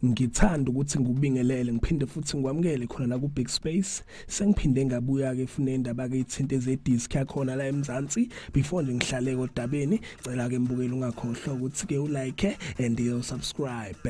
ngithanda ukuthi ngikubingelele ngiphinde futhi ngikwamukele khona la ku Big Space sengiphinde ngabuya ke fune indaba ke ithinte ze disc yakhona la eMzansi before nje ngihlale kodabeni cela ke mbukeli ungakhohlwa ukuthi ke u like and you subscribe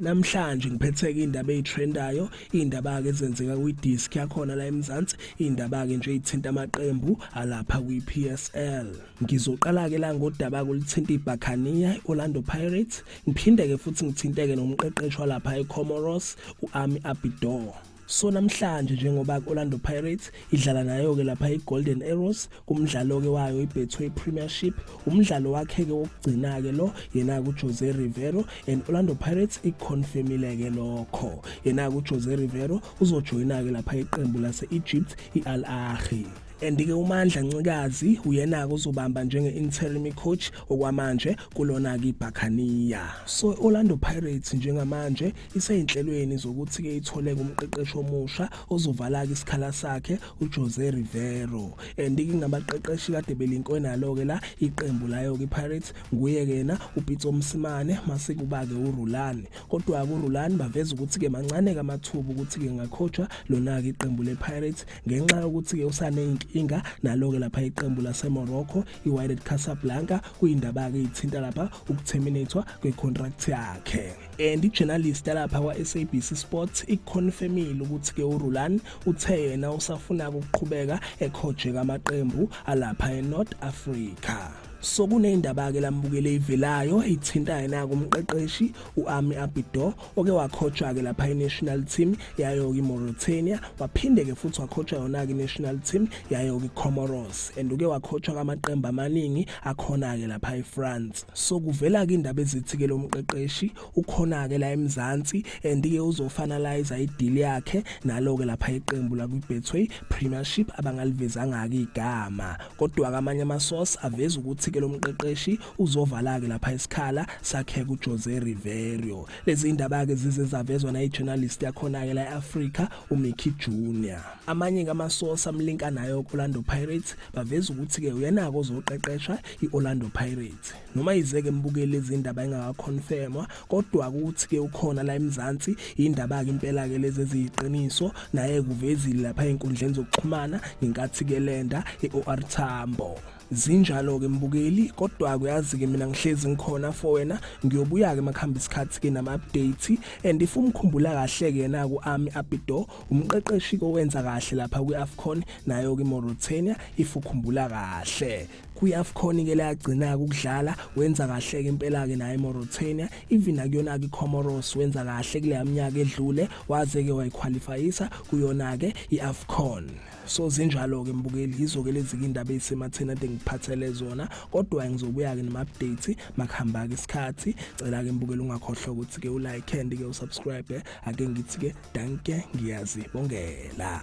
namhlanje ngiphetheke indaba ezitrendayo indaba ke ezenzeka kwi disk yakhona la eMzansi indaba ke nje ithinta amaqembu alapha kwi PSL ngizoqala ke la ngodaba kulithinta iBaccania Orlando Pirates ngiphinde ke futhi ngithinteke nomqeqeshi walapha eComoros uAmi Abidor so namhlanje njengoba i-orlando pirates idlala nayo-ke lapha i-golden arrows kumdlalo-ke wayo i-betway premiership umdlalo wakhe-ke wokugcina-ke lo yena-ke ujose rivero and orlando pirates ikhonfemile-ke lokho yena-ke ujose rivero uzojoyina-ke lapha iqembu lase-egypt i-al ahi and-ke umandla ncikazi uyena-ke uzobamba njenge-interim coach okwamanje kulona-ke ibhakhaniya so i-orlando pirates njengamanje iseyinhlelweni zokuthi-ke itholeke umqeqeshi omusha ozovalaka isikhala sakhe ujose rivero and kingabaqeqeshi kade belinkwe nalo-ke la iqembu layo-ke ipirates nguye-ke yena upitso msimane masekuba-ke urulani kodwa-ke urulani baveza ukuthi-ke mancane-ke amathuba ukuthi-ke ngakhotshwa lona-ke iqembu lepirates ngenxa yokuthi-ke usaneyinkinga nalo-ke lapha iqembu lasemorocco iwiled casablanca kuyindaba-ke ithinta lapha ukutheminathwa kwecontract yakhe and ijournalist yalapha kwa-sabc sports ikuconfirmile ukuthi-ke urulani uthe yena usafunaka ukuqhubeka ekhojeka amaqembu alapha enorth africa so kuneyindaba-ke lambukele ivelayo ithinta yena-ke umqeqeshi u-ami abido oke wakhotshwa-ke lapha i-national team yayo-ke imauritania waphinde-ke futhi wakhotshwa yona-ke i-national team yayo-ke icomoros and uke wakhotshwa kamaqembu amaningi akhona-ke lapha efrance so kuvela-ke indaba ezithi-ke lo mqeqeshi ukhona-ke la emzansi and-ke uzofanaliza idili yakhe nalo-ke lapha iqembu lakwi-betway premiership abangalivezanga-ke igama kodwa-ke amanye amasource aveza ukuthi-ke lo mqeqeshi uzovala-ke lapha isikhala sakhe kujose riverio lezi ndaba-ke zize zavezwa nayi-journalist yakhona-ke la e-afrika umickey junior amanye-ke amasource amlinka nayo orlando pirates baveza ukuthi-ke uyanako ozoqeqesha i-orlando pirates noma yizeke mbukeli izindaba engakakhonfemwa kodwa ukuthi-ke ukhona la emzansi yindaba-ke impela-ke lezi eziyiqiniso naye kuvezile lapha ey'nkundleni zokuxhumana ngenkathi-ke lenda i-or tambo zinjalo-ke mbukeli kodwa kuyazi-ke mina ngihlezi ngikhona for wena ngiyobuya-ke makuhamba isikhathi-ke nama-update and if umkhumbula kahle-ke yena-ku-ami apido umqeqeshi kowenza kahle lapha kwi-afcon nayo kimauritania if ukhumbula kahle kwi-afcon ke leyagcina-ke ukudlala wenza kahle-ke impela-ke naye imauritania even akuyona-ke icomoros wenza kahle kuleya minyaka edlule waze-ke wayikhwalifayisa kuyona-ke i-afcon so zinjalo-ke mbukeli yizo-ke lezi-ke indaba eyisematheni ade ngiphathele zona kodwa ngizobuya-ke nema-update makuhamba-ke isikhathi cela-ke mbukeli ungakhohlwa ukuthi-ke ulike and-ke usubscribe ake ngithi ke danke ngiyazibongela